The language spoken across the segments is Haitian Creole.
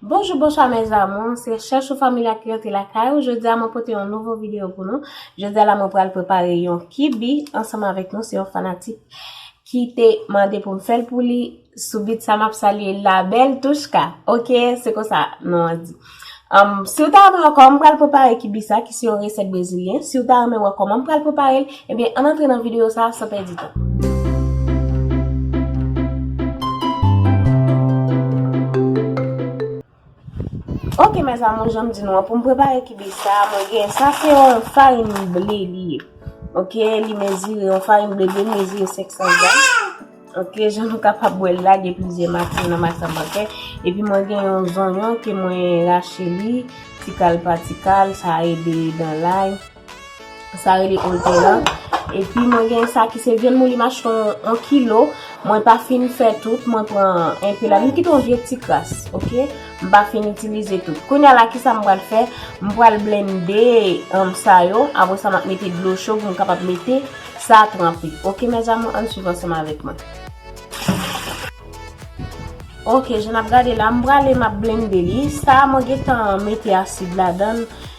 Bonjou bonswa mes amours se chèch ou familya ki rantre lakay ou jodia mwen pote yon nouvo video pou nou jodia la mwen pral prepare yon kibi ansanm avèk nou se yon fanatik ki te mande pou m fèl pou li Sou bit sa map salye la bèl Touchka. Ok se konsa non an di. Si ou ta renmen wè kòman m pral prepare kibisa ki se yon resèt brezilyen, si ou ta renmen wè kòman m pral prepare l, ebyen ann antre nan videyo sa san pèdi tan. Ok mes amours janm di nou an poum prepare kibe sa mwen gen sa se yon farin ble li ye ok li mezire yon farin ble li mezire 500 gram ok jan nou kapab wèl la gen plizyè mati nan mati sa mwen fè epi mwen gen yon zonyon ke mwen rache li tikal pa tikal sa ede dan lay. Sa rele oze la. Epi mwen gen sa ki se vyann mouli macheton 1 kilo. Mwen pa fin fè tout. Mwen pran enpe la. M kite yon vye ti kras. Ok. M pa fin itilize tout. Kounya la ki sa m pral fè. M pral blende sa yo. Apre sa m ap mete dlo cho pou m kapab mete sa tranpe. Ok mes amour. Ann swiv ansanm avèk mwen. Ok. Jan n ap gade la. M prale m ap blende li. Sa mwen gen tan mete asid ladan.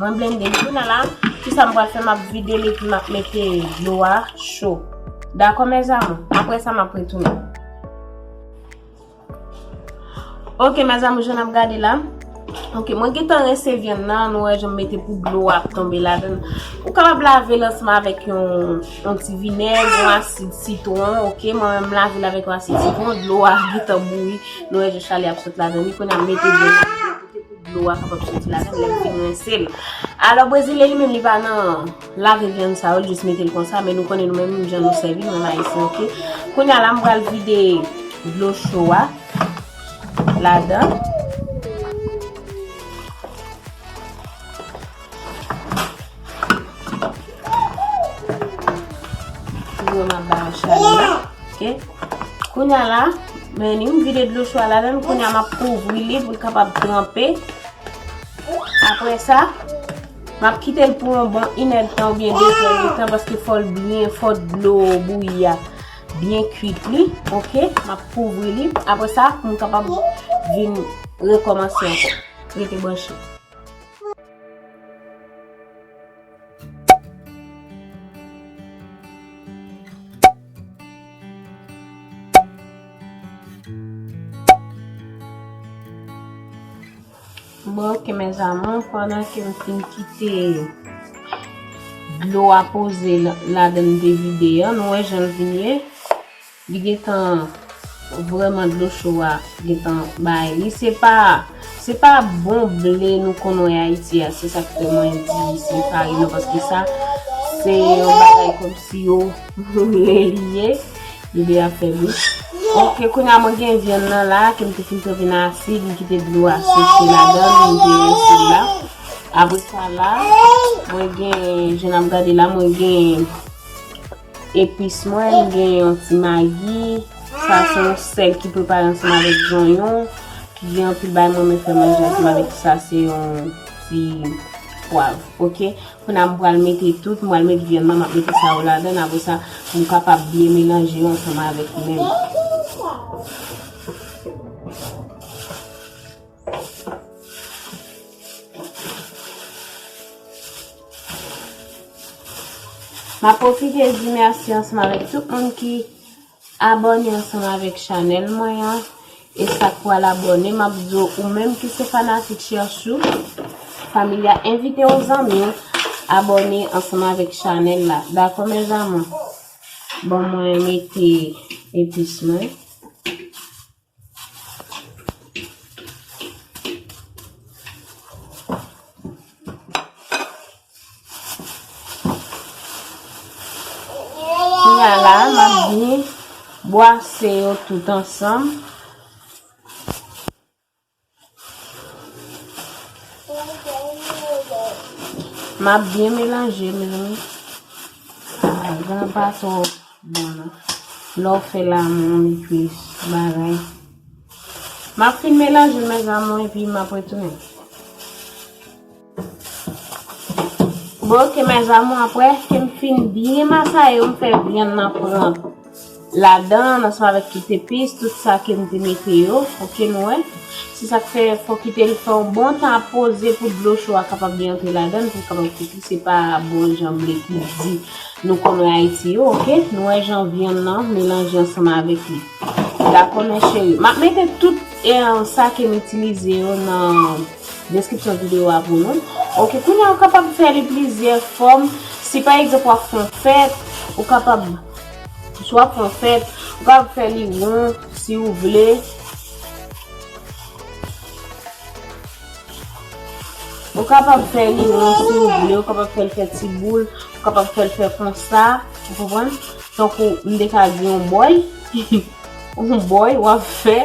Mwen blende l kounye la. Ki sa m pral fè? M ap vide l epi m ap mete dlo a cho. Dakò mèzamou? Apre sa m ap retounen. Ok mèzamou jan n ap gade la. Ok mwen gentan rense vyann nan. Nou wè jan m mete pou dlo a ap tonbe ladan l. Ou kapab lave l ansanm avèk yon ti vinèg, yon asid sitwon. Ok mwen menm m lave l avèk yon asid sitwon. Dlo a gentan bouyi. Nou wè jan chalè ap sot ladan li. Kounye a m mete vyann nan. Dlo a kapab soti ladan l lè m fin rense l. Alò brezilyen li menm li pa nan lave vyann sa yo, l jis mete l konsa men nou konnen nou menm jan nou sèvi nou menm ayisyen ok. Kounya la m pral vide dlo cho a ladan. Mwen ap bay yon chale la. Kounya la, mwen yon vide dlo chwa la dan. Kounya m ap kouvri li pou l kapab tranpe. Apre sa, m ap kite l pou yon bon inèd tan ou byen desan yon tan. Paske fò l byen, fò dlo bouyi ya. Byen kuit li. Ok, m ap kouvri li. Apre sa, m kapab vin rekomansi anko. Rete banshi. Bon ok mes amour, pandan ke m fin kite dlo a poze ladan m te vide an, nou wè jan l vin ye. Li gentan vrèman dlo cho a gentan bay li se pa se pa bon ble nou konn wè ayiti a se sak fè mwen di se farin nan paske sa se yon bagay kòmsi yo moule li ye li deja fè bouch ok kounye a mwen gen vyann nan la kem te fin trete nan asid m kite dlo a seche ladan li m te rense l la apresa la mwen gen jan nap gade la mwen gen. Epis mwen, m gen yon ti magi, sa se yon sèl ki prepare ansanm avèk zonyon, ki gen anpil bagay mwen renmen fè manje ansanm avèk li, sa se yon ti pwav, ok. Kounya m pral mete tout, m pral mete vyann nan, m ap mete sa yo ladan l, apre sa pou m kapab byen melanje yo ansanm avèk li menm. Map profite di merci ansanm avèk tout moun ki abone ansanm avèk chanèl mwen an. E sak pral abone map di ou menm ki se fanatik Cherchou Familya envite yon zanmi ou abone ansanm avèk chanèl la. Dakò mes amours. Bon mwen mete epis mwen. Kounya la a map byen bwase yo tout ansanm. Map byen melanje mezanmi. Ah, gan pa tro bon nan. Lè ou fè la moun li plis bagay. Map fin melanje mezanmi epi map retounen. Bon ok mes amour apre kem fin byen masaye yo m fè vyann nan pran ladan ansanm avèk tout epis tout sa kem te mete yo ok nou wè se sak fè fò kitel fè yon bon tan ap poze pou dlo cho a kapab byen antre ladan poul kapab kwit li se pa bon jan blé kouzi nou konnen ayiti yo ok nou wè jan vyann nan melanje ansanm avèk li dakò mes chéri map mete tout sa kem itilize yo nan Deskripsyon videyo a pou nou. Ok, kounye a ou kapab fè li plizyè fòm. Si pa egzanp w ap fè yon fèt, ou kapab, si w ap fè yon fèt, ou kapab fè li won si ou vle. Ou kapab fè li won si ou vle, ou kapab fè l fè ti boul, ou kapab fè l fè konsa, ou konprann? Tankou m te ka di yon bòy. Bon boy wap fè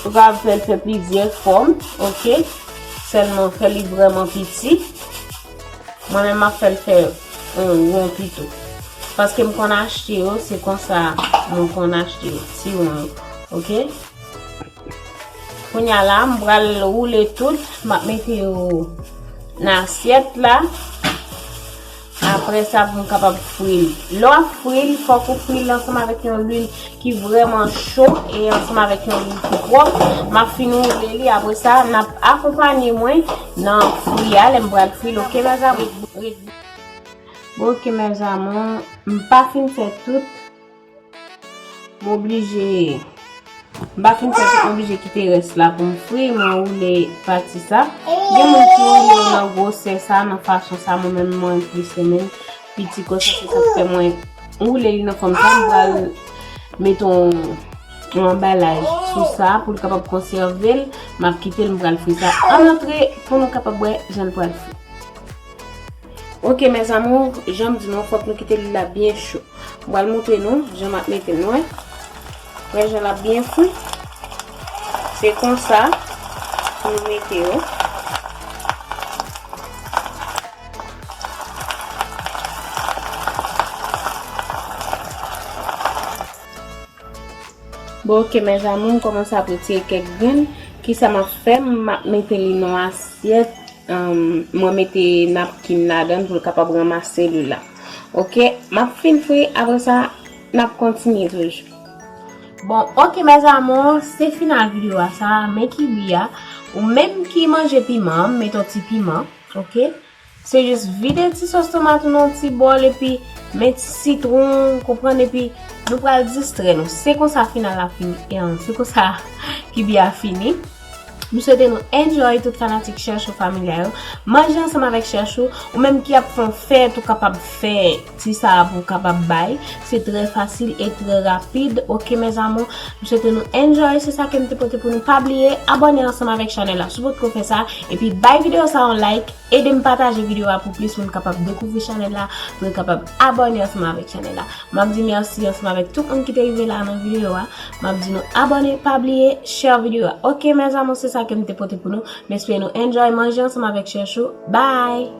ou ka fèl fè plizyè fòm ok sèlman fè li vrèman piti mwen menm map fèl fè on won pito paske m konn achte yo se konsa mwen konn achte yo ti won yo ok kounya la m pral woule tout map mete yo nan asyèt la. Aprè sa pou nou kapab fri l. Lè w ap fri l, fòk ou fri l ansanm avèk yon lwil ki vrèman cho e ansanm avèk yon lwil ki pwòp. M ap fin woule li aprè sa n ap akonpanye mwen nan fri a lè m pral fri l ok mes amours. Bon ok mes amours m pa fin fè tout. M oblije M pa fin fè tout m oblije kite rès la pou m fri m anwoule pati sa Gen moun ki woule yo nan gwosè sa nan fason sa mwen menm mwen plis renmen piti konsa se sa k fè mwen woule li nan fòm sa m pral met yon yon anbalaj sou sa pou l kapab konsève l m ap kite l m pral fri sa an antre pou nou kapab wè jan l pral fri. Ok mes amours janm di nou fòk nou kite lwil la byen cho m pral moutre nou jan map mete l nou wè wè jan lap byen fri se konsa pou nou mete yo Bon ok mes amour m komanse ap retire kek grenn kisa map fè map mete li nan asyèt mwen mete napkin ladann poul kapab ranmase lwi la ok map fin fri apre sa nap kontinye toujou. Bon ok mes amour se final video a sa men kibi a ou menm ki manje piman an met yon ti piman ok. Se jis vide ti sos tomat ou nan ti bòl epi men ti sitron w konprann epi nou pral distrè nou se konsa final la fini en se konsa kibi a fini m swete nou enjoy tout fanatik chèchou familya yo manje ansanm avèk chèchou ou menm ki ap fè yon fèt ou kapab fè ti sa a pou kapab bay se trè fasil e trè rapid ok mes amour m swete nou enjoy se sa kem te pote pou nou pa bliye abòne ansanm avèk chanèl la si w potko fè sa epi bay video sa yon like edem pataje video a pou plis moun kapab dekouvri chanèl la pou yo kapab abòne ansanm avèk chanèl la map di merci ansanm avèk tout moun ki te rive la nan video a map di nou abòne pa bliye share video a ok mes amour se sa kem te pote pou nou m espere nou enjoy manje ansanm avèk chèchou bye.